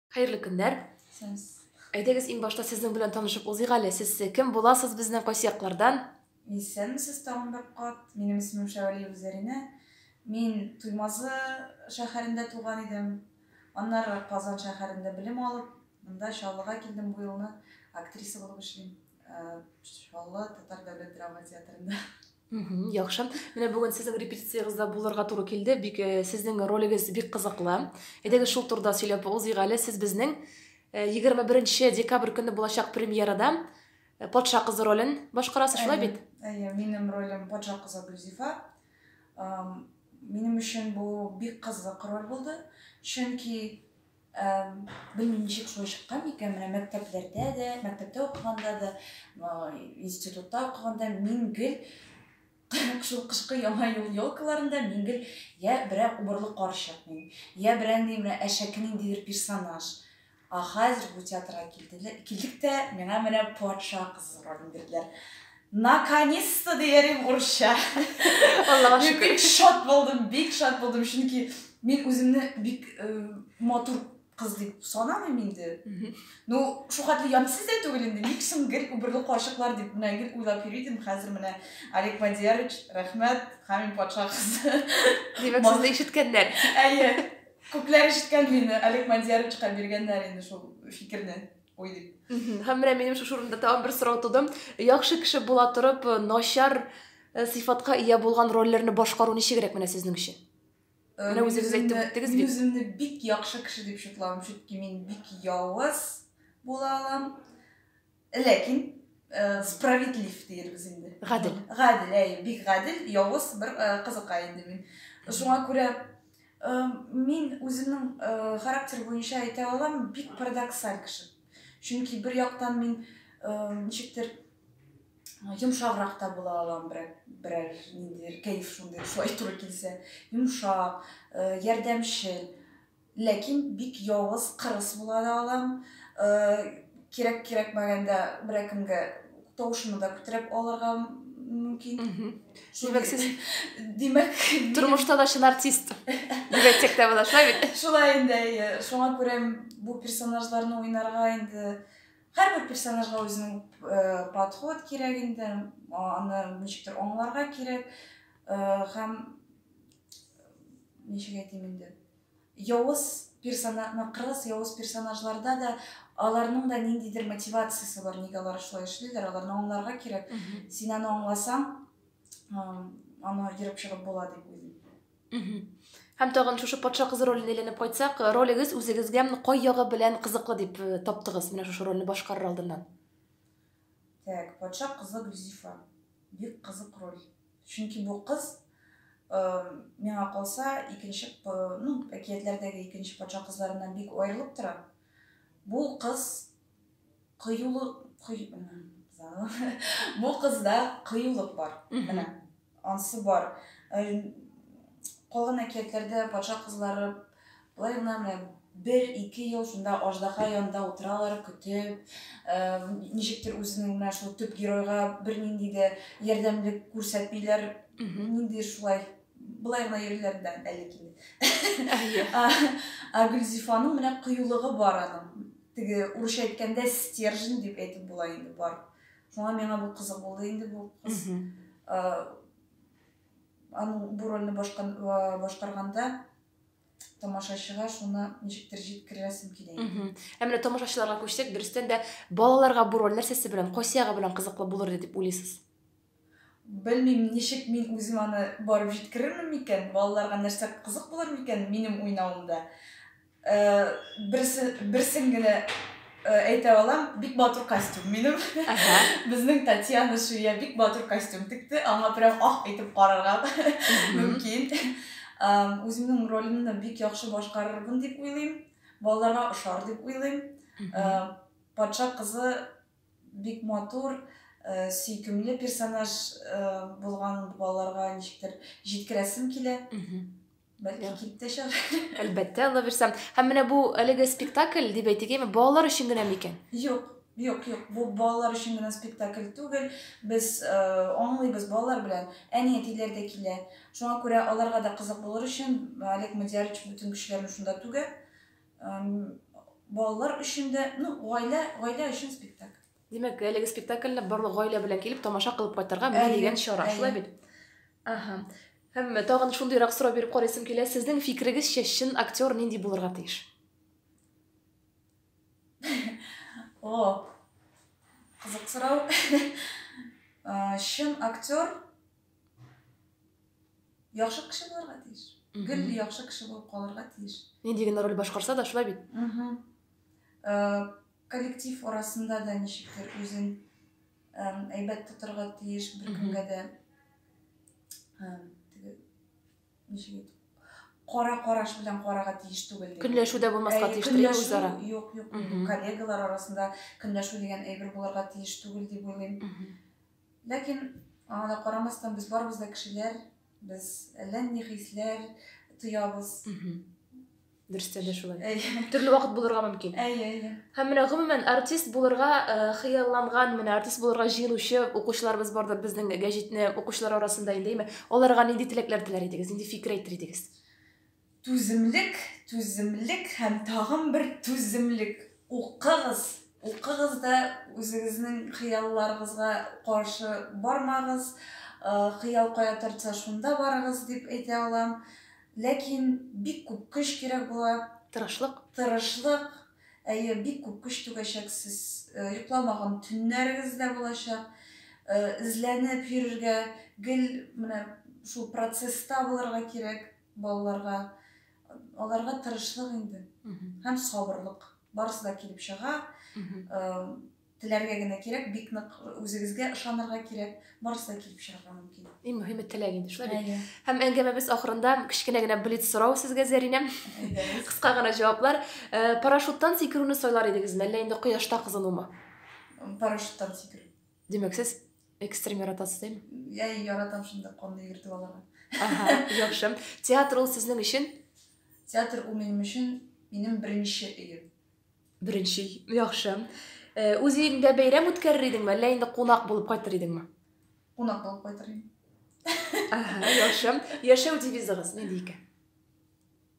Хәерле көннәр. Сез. Әйдәгез иң башта сезнең белән танышып узыйк әле. Сез кем буласыз безнең кайсы яклардан? Исәнмесез тагын бер кат. Минем исемем Шәвәлиева Зәринә. Мин Туймазы шәһәрендә туган идем. Аннары Казан шәһәрендә белем алып, монда Чаллыга килдем, бу елны актриса булып эшлим. Чаллы татар дәүләт драма театрында. Мгм, яхшы. Менә бүген сезнең репетициягездә булырга туры килде. Бик э, сезнең ролегез бик кызыклы. Әйдәгез шул турыда сөйләп узыйк әле. Сез безнең э, 21 декабрь көнне булачак премьерада э, патша кызы ролен башкарасыз, шулай бит? Әйе, минем ролем патша кызы Гөлзифа. Ам, Минем өчен бу бик кызык роль булды, чөнки Белмим, ничек шулай чыккан икән, менә мәктәпләрдә дә, мәктәптә укыганда да, институтта укыганда мин гел шул кышкы яңа ел елкаларында мин гел я берәр убырлы карчык мин, я берәр менә әшәке ниндидер персонаж. Ә хәзер бу театрга килдек тә, миңа менә патша кызы ролен бирделәр. Наконец-то дияр идем урысча. Аллага Мин шөкер. бик шат булдым, бик шат булдым, чөнки мин үземне бик э, матур кыз дип санамыйм инде. Мгм. Ну, шулкадәр ямьсез дә түгел инде. Ник соң гел үберле карчыклар дип менә гел уйлап йөри идем. Хәзер менә Олег Мадиярович, рәхмәт, Хамин патша кызы. Димәк, Мас- сезне ишеткәннәр. Әйе. Күпләр ишеткән мине Олег Мадияровичка биргәннәр инде шул фикерне. Ой, дип. Һәм менә минем шушы урында тагын бер сорау туды. Яхшы кеше була торып, э, начар э, сыйфатка ия булган рольләрне башкару ничегрәк менә сезнең өчен? Э, менә үзегез әйтеп үттегез бит. Мин үземне бик яхшы кеше дип шутлавым, чөнки мин бик явыз була алам. Ләкин Э, справедлив дигәнбез инде гадел гадел әй бик гадел явыз бер э, кызыкай инде мин шуңа күрә Мин үземнең характер буенча әйтә алам, бик парадоксаль кеше. Чөнки бер яктан мин ничектер йомшаграк та була алам берәр берәр ниндидер кәеф шундый шулай туры килсә йомшак ярдәмчел ләкин бик явыз кырыс була да алам кирәк кирәкмәгәндә берәкемгә тавышымны да күтәреп алырга мөмкин димәк сез димәк тормышта да чын артист дип әйтсәк тә була шулай бит шулай инде әйе шуңа күрә бу персонажларны уйнарга инде һәрбер персонажга үзенең э, подход кирәк инде аны ничектер аңларга кирәк э, һәм ничек әйтим инде Явыз персона ма кырыс явыз персонажларда да аларның да ниндидер мотивациясе бар, нигә алар шулай эшлиләр, аларны аңларга кирәк. Син аны аңласаң, аны ерып чыгып була дип уйлыйм. Һәм тагын шушы патша кызы роленә әйләнеп кайтсак, ролегез үзегезгә кай ягы белән кызыклы дип э, таптыгыз менә шушы рольне башкарыр алдыннан? Так, патша кызы Гөлзифа. Бик кызык роль. Чөнки бу кыз, миңа калса, икенче, ну, әкиятләрдәге икенче патша кызларыннан бик аерылып тора. Бу кыз кыюлы, кый, бу кызда кыюлык бар. Менә ансы бар. Калган әкиятләрдә патша кызлары Болай гына менә бер-ике ел шунда аждаһа янында утыралар, көтеп, ничектер үзенең менә шул төп геройга бернинди дә ярдәмлек күрсәтмиләр. Нинди шулай былай гына йөриләр дә әле килде. Ә Гөлзифаның менә кыюлыгы бар аның. Теге урысча әйткәндә стержень дип әйтеп була инде бар. Шуңа миңа бу кызык булды инде бу кыз. Аның бу рольне башкарганда тамашачыга шуны ничектер җиткерәсем килә. Ә менә тамашачыларга күчсәк, дөрестән дә балаларга бу роль нәрсәсе белән, кайсы ягы белән кызыклы булыр дип уйлыйсыз? Белмим, ничек мин үзем аны барып җиткерермен микән, балаларга нәрсә кызык булыр микән минем уйнавымда. Берсе, берсен генә әйтә алам, бик матур костюм минем. Безнең Татьяна Шуя бик матур костюм текте, аңа прям ах итеп карарга мөмкин. Үземнең ролемне бик яхшы башкарырмын дип уйлыйм. Балаларга ошар дип уйлыйм. Патша кызы бик матур, сөйкемле персонаж булган балаларга ничектер җиткерәсем килә. Бәлки кип тә чыгар. Әлбәттә, ала бирсәм. Һәм менә бу әлеге спектакль дип әйтегеме, балалар өчен генә микән? Юк, юк, юк. Бу балалар өчен генә спектакль түгел. Без э, аңлыйбыз балалар белән. Әни әтиләр дә килә. Шуңа күрә аларга да кызык булыр өчен Олег Мадьярович бөтен көчләрен шунда түгә. Балалар өчен дә, ну, гаилә, гаилә өчен спектакль. Димәк, әлеге спектакльне барлык гаилә белән килеп тамаша кылып кайтырга менә дигән чара. Шулай бит? Ага. Һәм тагын шундыйрак сорау биреп карыйсым килә, сезнең фикерегезчә чын актер нинди булырга тиеш? О, кызык сорау. Чын актер яхшы кеше булырга тиеш. Гел яхшы кеше булып калырга тиеш. Нинди генә роль башкарса да шулай бит. Коллектив арасында да ничектер үзен әйбәт тотырга тиеш беркемгә дә ничек әйтү кара караш белән карага тиеш түгел дип көнләшү дә булмаска тиеш түгел үзара юк юк коллегалар арасында көнләшү дигән әйбер булырга тиеш түгел дип уйлыйм ләкин аңа да карамастан без барыбыз да кешеләр Без әллә ни хисләр тоябыз. Дөрестә дә шулай. Әйе. Төрле вакыт булырга мөмкин. Әйе, әйе. Һәм менә гомумән артист булырга э, хыялланган, менә артист булырга җыенучы укучыларыбыз бардыр безнең гәҗитне укучылар арасында инде, әйме? Аларга нинди теләкләр теләр идегез, нинди фикер әйтер идегез? Түземлек, түземлек һәм тагын бер түземлек. Укыгыз, укыгыз да үзегезнең хыялларыгызга каршы бармагыз. Хыял кая тартса шунда барыгыз дип әйтә алам. Ләкин бик күп көч кирәк була. Тырышлык. Тырышлык. Әйе, бик күп көч түгәчәксез. Йокламаган төннәрегез дә булачак. Эзләнеп йөрергә, гел менә шул процесста булырга кирәк. Балаларга, аларга тырышлык инде һәм сабырлык. Барысы да килеп чыга. Теләргә генә кирәк, бик нык үзегезгә ышанырга кирәк. Барысы да килеп чыгарга мөмкин. Иң мөһиме теләк инде, шулай бит? Һәм әңгәмәбез ахырында кечкенә генә блиц сорау сезгә, Зәринә. Кыска гына җаваплар. Парашюттан сикерүне сайлар идегезме, әллә инде кояшта кызынумы? Парашюттан сикерү. Димәк, сез экстрим яратасыз, дим? Я, яратам шунда конны йөртеп аларга. Ага, яхшы. Театр ул сезнең өчен? Театр ул минем өчен минем беренче өем. Беренче, яхшы. Э, үз өеңдә бәйрәм үткәрер идеңме, әллә инде кунак булып кайтыр идеңме? Кунак булып кайтыр идем. Ага, яхшы. Яшәү девизыгыз нинди икән?